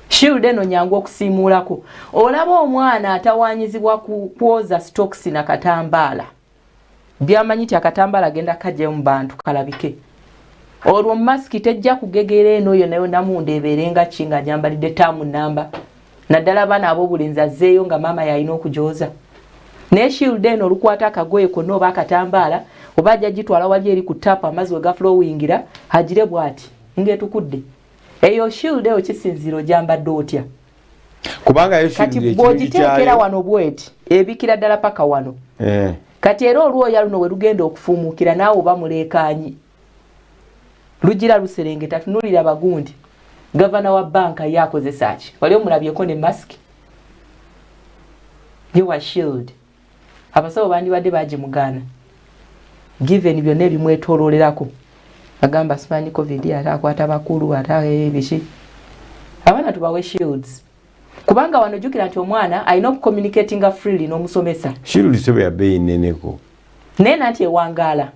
shield eno nyangu okusiimuulako olaba omwana atawanyizibwa kwoza stokisi na katambaala byamanyi ti akatambala agenda kajjayo mu bantu kalabike olwo masiki tejja kugegera eno oyo nayo namunda ebeerenga ki nga nyambalidde taamu namba naddala abaana ab'obulenzi azzeeyo nga maama yalina okugyoza naye shiilda eno olukwata akagoye konna oba akatambaala oba ajja gitwala wali eri ku taapu amazzi we gafulowingira agire bw'ati ng'etukudde eyo shiilda eyo kisinziiro gyambadde otya kubanga kati bwogiteekera wano bweti ebikira ddala paka wano eh. kati era olwoya luno werugenda okufumuukira naawe oba muleekaanyi lugira luserengeta tunulira bagundi gavana wa banka ye akozesa ki wali omulabyeko ne mask ye wa shield abasawo bandibadde bagimugaana given byonna ebimwetoloolerako agamba simanyi covid ate akwata bakulu ate eh, biki abaana tubawe shields kubanga wano jukira nti omwana alina okucommunicatinga freely n'omusomesa shields eba yabeeyi neneko naye nanti ewangaala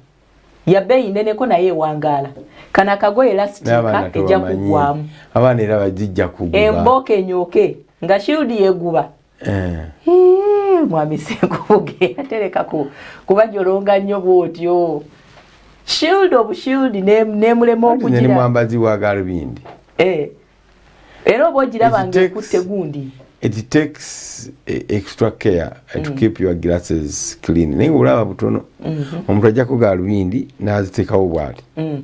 yabeeyi neneko naye ewangaala kano akagoye lastika ejja kugwamu abaana era bajijja kuguba emboka enyooke nga shield yeguba Eh. Eh, mwami senkubuge atereka kubajolonga nnyo bwotyo shield obu shield nemulema okugiramwambazi wa galubindi eh. era oba ogiraba nga ekutte gundi it takes e, extra care mm. to keep your glasses clean naye olaba butono mm-hmm. omuntu ajjako galubindi naziteekawo bwati mm.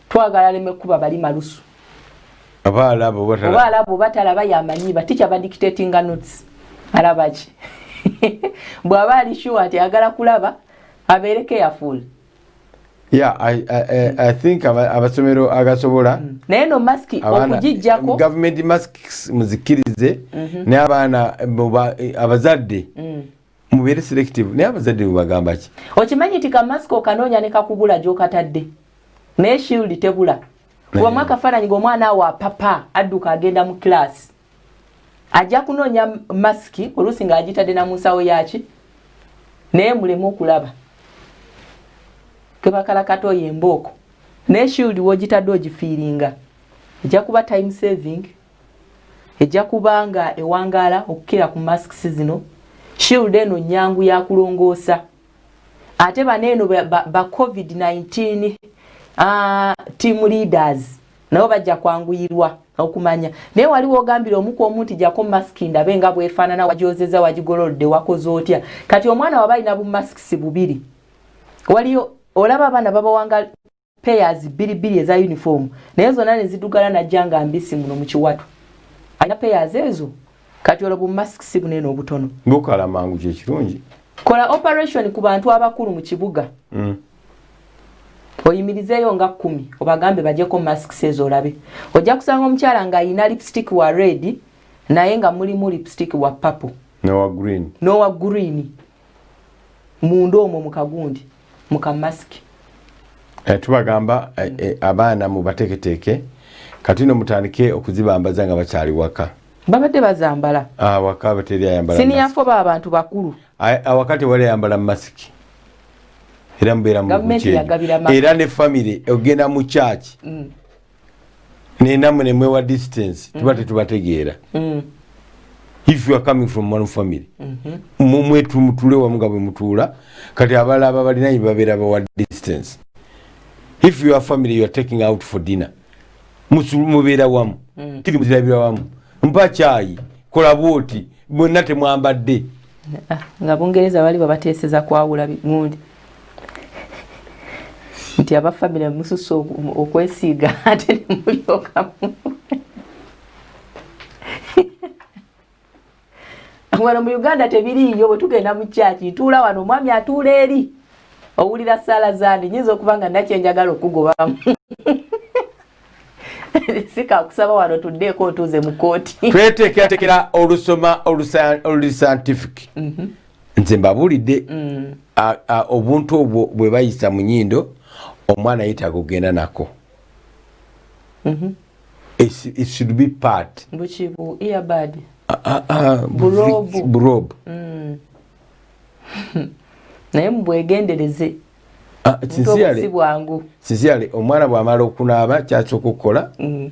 twagala aleme kuba bali malusu oba alaba oba talaba oba alaba oba talaba yamanyi ba teacher ba dictating notes alaba ki bwaba ali sure ati agala kulaba abeere careful Yeah, I, I, I, I think abasomero agasobola mm. naye no mask okugijjako government masks muzikirize mm -hmm. ne abaana abazadde mm. mubere selective naye abazadde mubagamba ki okimanyi nti kamasiko okanoonya ne kakubula gyokatadde naye shield tebula kubamu akafaananyi ngaomwana awo apapa adduka agenda mu kilaasi ajja kunoonya masiki oluusi ng'agitadde na mu nsawo yaki naye muleme okulaba kebakalakata oyo embooko naye shield wogitadde ogifiiringa ejja kuba time saving ejja kuba nga ewangaala okukira ku masks zino shield eno nyangu yakulongoosa ate bano eno ba, ba, ba covid-19 uh, team leaders nabo bajja kwanguyirwa okumanya naye wali wogambira omuku omu nti jako mask ndabe nga bwefaanana wajozeza wagigololodde wakoze otya kati omwana waba alina bumasks bubiri waliyo olaba abaana babawanga payers bili bili eza uniform naye zona ne zidugala na janga mbisi muno mukiwatu alina payers ezo kati olo bu mask si bunene obutono ngokala mangu kye kirungi kola operation ku bantu abakulu mu kibuga mm. oyimirizeeyo nga kumi obagambe bajeko mask sezo olabe ojja kusanga omukyala nga ayina lipstick wa red naye nga mulimu lipstick wa papo nowa green nowa green munda omwo mu kagundi mu kamasiki eh, tubagamba eh, eh, abaana mubateeketeeke kati no mutandike okuzibambaza nga bakyali waka babadde bazambala ah, waka bateri ayambala siniyafo ba abantu bakulu awakati wali ayambala masiki era mubeera mu era ne famire ogenda mu kyaki mm. naye namwe nemwewa distance mm. tuba tetubategeera mm. if you are coming from one family mm-hmm. mumwetumutule wamu nga bwemutuula kati abala aba balinaye babeera bawa distance if your family youare taking out for dinner mubeera wamu mm. tiri muzirabira wamu mpa kyayi kola bwoti mwena temwambadde ah, nga bungereza bali babateeseza kwawula gundi nti aba famire mususa okwesiiga ate nemulyokamu wano mu uganda tebiriiyo bwe tugenda mu kyaki ntuula wano omwami atuula eri owulira saala zandi nyinza okuba nga nakyenjagala okugobamu sikakusaba wano tuddeeko otuuze mu kooti tweteekeratekera olusoma olusantific mhm. nze mbabuulidde mm. obuntu obwo bwe bayisa mu nyindo omwana yetaaga okugenda nako mm-hmm. it should be part bukibu earbud burob mm. naye mubwegendereze ah, sincerely omwana bwamala okunaaba kyasooka okukola mm.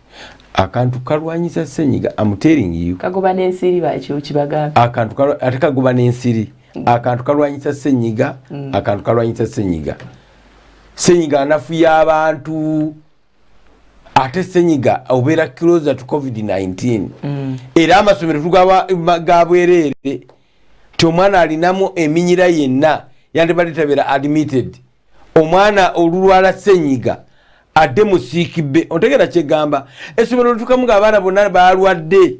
akantu kalwanyisa senyiga amuteringiyo kagoba nensiri bakyokibagambe akantu ate kagoba nensiri mm. akantu kalwanyisa senyiga mm. akantu kalwanyisa senyiga senyiga anafu yabantu ate senyiga obeera closer to covid-19 mm. era amasomero tugaba gabwereere ti omwana alinamu eminyira yenna yandibadde tabeera admitted omwana olulwala senyiga adde musiikibbe ontegera kyegamba essomero lutukamu nga abaana bonna balwadde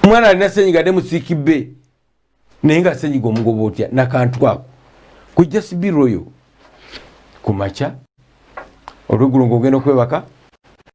omwana alina senyiga adde musiikibbe naye nga senyiga omugoba otya nakantu ako kujja sibiroyo ku makya olwegulo ngaogenda okwebaka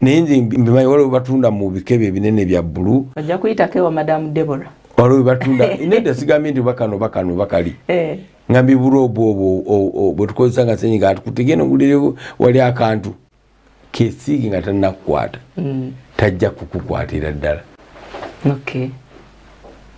naye nze mbimanyi waliwo batunda mu bikebe ebinene bya bbulu ojja kuyitako ewa madamu debora waliwo batunda nedda sigambye nti bakano bakano bakali eh. nga mbibula obwo obwo bwetukozesa nga senyiga atukutegeno gulire wali akantu kesiigi nga tanakukwata mm. tajja kukukwatira ddala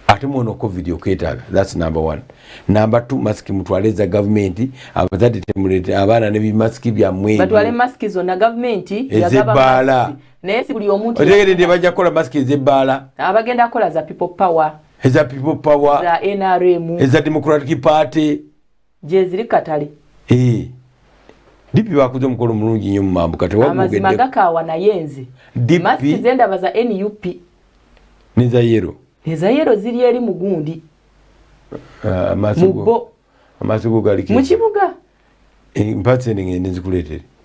ate mwono covid okwetaaga thats number one number two masiki mutwale eza gavumenti abazadde temulete abaana ne bimasiki byammwebatwale masiki zonna gavumenti ezebbaala naye si buli omuntu otegeredde bajja kukola masiki ezebbaala abagenda kukola za people power eza people power za nrm eza democratic party gyeziri katale eh. dipi bakuze omukolo mulungi nyo mumambuka tewamazima gakaawa naye nze masiki zendaba za nup neza yero neza yero ziri eri mugundi ah, mubo mukibuga eh, mpatse nengende nzikuletere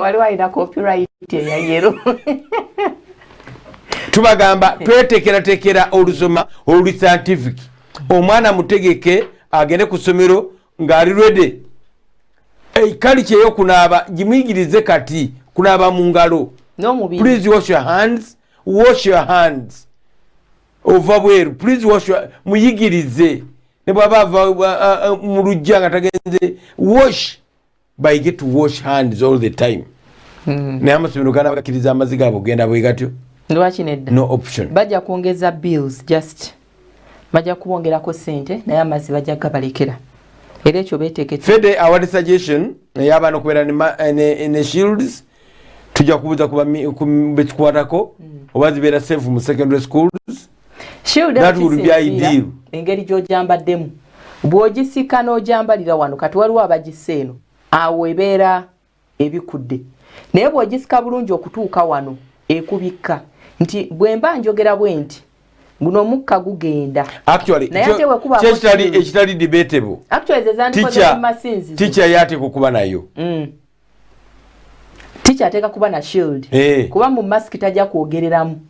waliwo alina copyright eya yero tubagamba twetekeratekera olusoma oluli scientific omwana mutegeke agende ku ssomero ng'ali rwede kali kyeyokunaaba gimuyigirize kati kunaaba mu ngalo please wash your hands wash your hands ova bweru please wash your muyigirize ne bwaba ava mu lujja nga tagenze wash bayige to wash hands all the time hmm. naye amasomero gana bakiriza amazi gabo genda bwegatyo lwaki nedda no option bajja kwongeza bills just bajja kubongerako sente naye amazi bajja gabalekera era ekyo betekete fede awali suggestion naye abaana okubeera ne eh, shields tujja kubuuza kubekikwatako hmm. oba zibeera safe mu secondary schools engeri gyojambaddemu bwogisika n'ojambalira wano kati waliwo abagisa eno awo ebeera ebikudde naye bwogisika bulungi okutuuka wano ekubikka nti bwemba njogera bwe nti guno omukka gugenda ekitali debatable ticha yate kukuba nayo mm. ticha ateka kuba na shield hey. Eh. kuba mu mask taja kuogereramu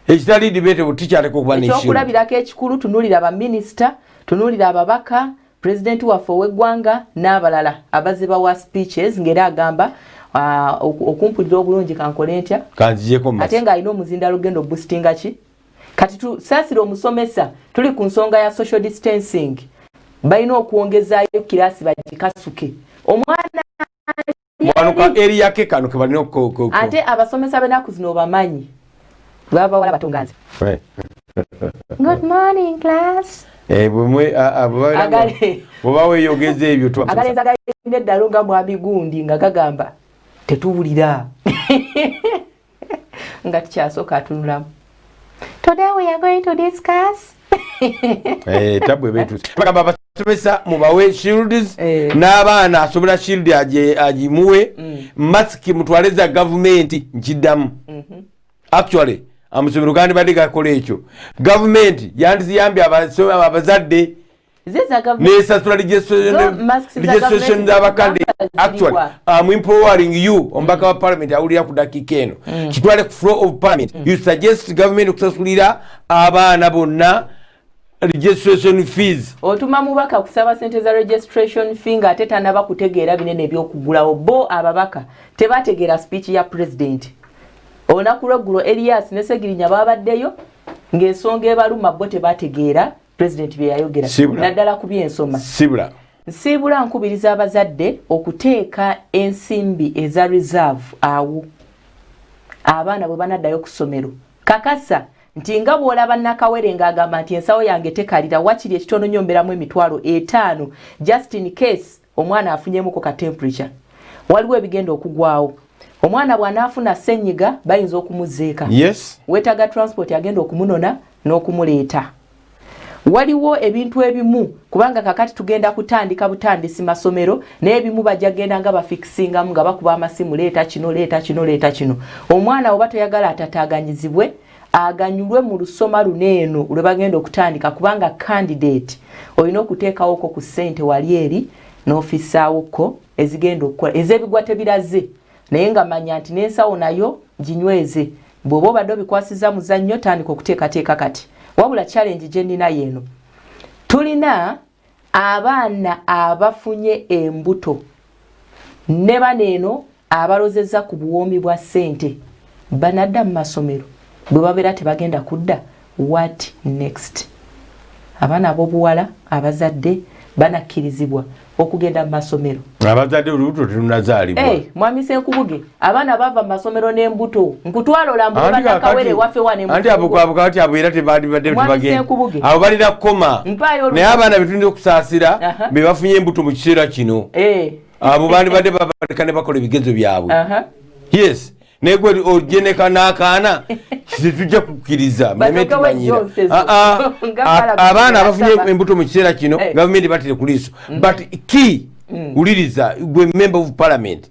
ekitali debate bu ticha ateka kuba na shield ekyokulabira ke kikulu tunulira ba minister tunulira ababaka president wa fo wegwanga nabalala abaziba wa speeches ngera agamba uh, okumpulira obulungi kankole ntya kanjijeko mask atenga ino muzinda lugendo boostinga ki kati tusaasira omusomesa tuli ku nsonga ya social distancing balina okwongezaayo kiraasi bagikasuke omwana ate abasomesa benaku zino obamanyi babawala batonganze good morning class eh, bwebaweyogeza ebyo agalenzi agalina eddalo nga mwami gundi nga gagamba tetuwulira nga tukyasooka atunulamu today we are going to discuss eh, tabwe betusi bagamba abasomesa mubawe shields eh. n'abaana asobola shield agimuwe mm. masiki mutwale za gavumenti nkiddamu mhm. actually amusomero gandibadde gakola ekyo gavumenti yandiziyambye abazadde nesasula registration zabakande actually am empowering you omubaka wa parliament awulira ku dakika eno mm. kitwale ku flow of parliament mm. you suggest government okusasulira abaana bonna registration fees otuma mubaka kusaba sente za registration fee nga ate tanaba kutegeera binene ebyokugulawo bo ababaka tebategeera speech ya president olunaku lweggulo elias ne segirinya babaddeyo ng'ensonga ebaluma bo tebategeera pulezidenti bye yayogera naddala ku by'ensoma sibula nsiibula nkubiriza abazadde okuteeka ensimbi eza reserve awo abaana bwe banaddayo ku ssomero kakasa nti nga bw'olaba nakawere ng'agamba nti ensawo yange tekalira wakiri ekitono nyo mberamu emitwalo etaano justin case omwana afunyemuko ka temperature waliwo ebigenda okugwawo omwana bwanaafuna senyiga bayinza okumuzeeka yes. wetaga transport agenda okumunona n'okumuleeta waliwo ebintu ebimu kubanga kakati tugenda kutandika butandisi masomero naye ebimu bajja genda nga bafikisingamu nga bakuba amasimu leeta kino leeta kino leeta kino omwana oba toyagala atataaganyizibwe aganyulwe mu lusoma luno eno lwe bagenda okutandika kubanga kandidate olina okuteekawoko ku ssente wali eri n'ofisaawokko ezigenda okukola ez'ebigwa tebiraze naye nga manya nti n'ensawo nayo ginyweze bw'oba obadde obikwasiza muzannyo tandika okuteekateeka kati wabula challenge gye nnina yeeno tulina Abaana abafunye embuto ne bano eno abalozezza ku buwoomi bwa ssente banadda mu masomero bwe babeera tebagenda kudda what next abaana ab'obuwala abazadde banakkirizibwa okugenda mu masomero abazadde olubuto terunazaalibwa hey, eh, mwami senkubuge abaana bava mumasomero nembuto nkutwala olambubanakawere wafe waneanti abukwabuka bati abo era tebandibaddebagendaabo balina kukoma naye abaana betulina okusaasira bebafunye embuto mu kiseera kino eh. abo bandibadde babaleka ne bakola ebigezo byabwe yes naye gwe ojeneka n'akaana tetujja kukkiriza mulemetumanyira ah, ah. abaana abafunye embuto mu kiseera kino eh. gavumenti batire ku liiso mm. but key mm. wuliriza gwe member of parliament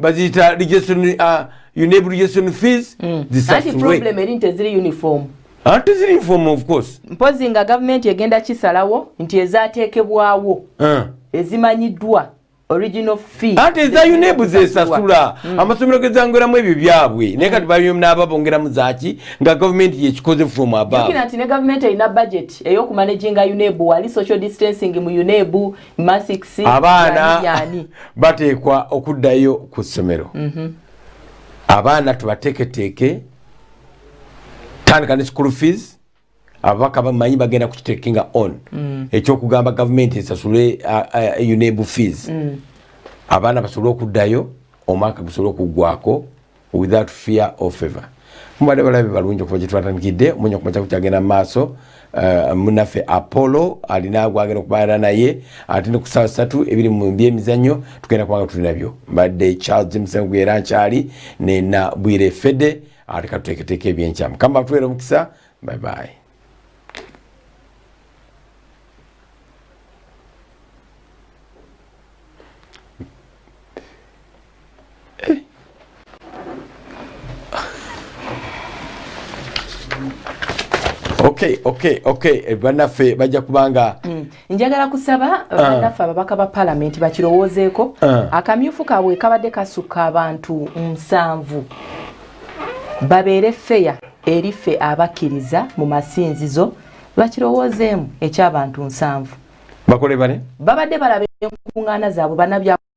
baziyita rejection uh, unable rejection fees mm. anti problem eri nti eziri uniform ate ziri uniform of course mpozi nga gavumenti egenda kisalawo nti ezateekebwawo uh. ezimanyiddwa original fee ate eza unable zesasula mm. amasomero gezangweramu ebyo byabwe mm. naye kati bayonaba bongeramu zaki nga gavumenti yekikoze from above nti ne gavumenti erina budget ey'okumanaginga unable wali social distancing mu unable abaana bateekwa okuddayo ku ssomero mhm. abaana tubateeketeeke tandika ne school fees ababaka bamanyi bagenda kukitekinga on mm. ekyokugamba gavumenti esasule unebu fees mm. abaana basobole okuddayo omwaka gusobole okuggwako without fear or favor mubadde balabe balungi okuva gyetwatandikidde munya kumaca kukyagenda mumaaso eh, munaffe apollo alina gwagenda okubaana naye ate nekusaa satu ebiri mubyemizanyo tugenda kubanga tulinabyo mbadde charles msengu era nkyali nena bwire fede ate katuteeketeeka ebyenkyamu kamba tuwera omukisa bye bye okay okay okay eh, banafe bajja kubanga mm. njagala kusaba uh, ah. banaffe ababaka ba palamenti bakirowoozeeko uh, akamyufu kaabwe kabadde kasukka abantu nsanvu babeere feya eri ffe abakkiriza mu masinzizo bakirowoozeemu ekyabantu nsanvu bakole bane babadde balaba enkuŋŋaana zaabwe banabya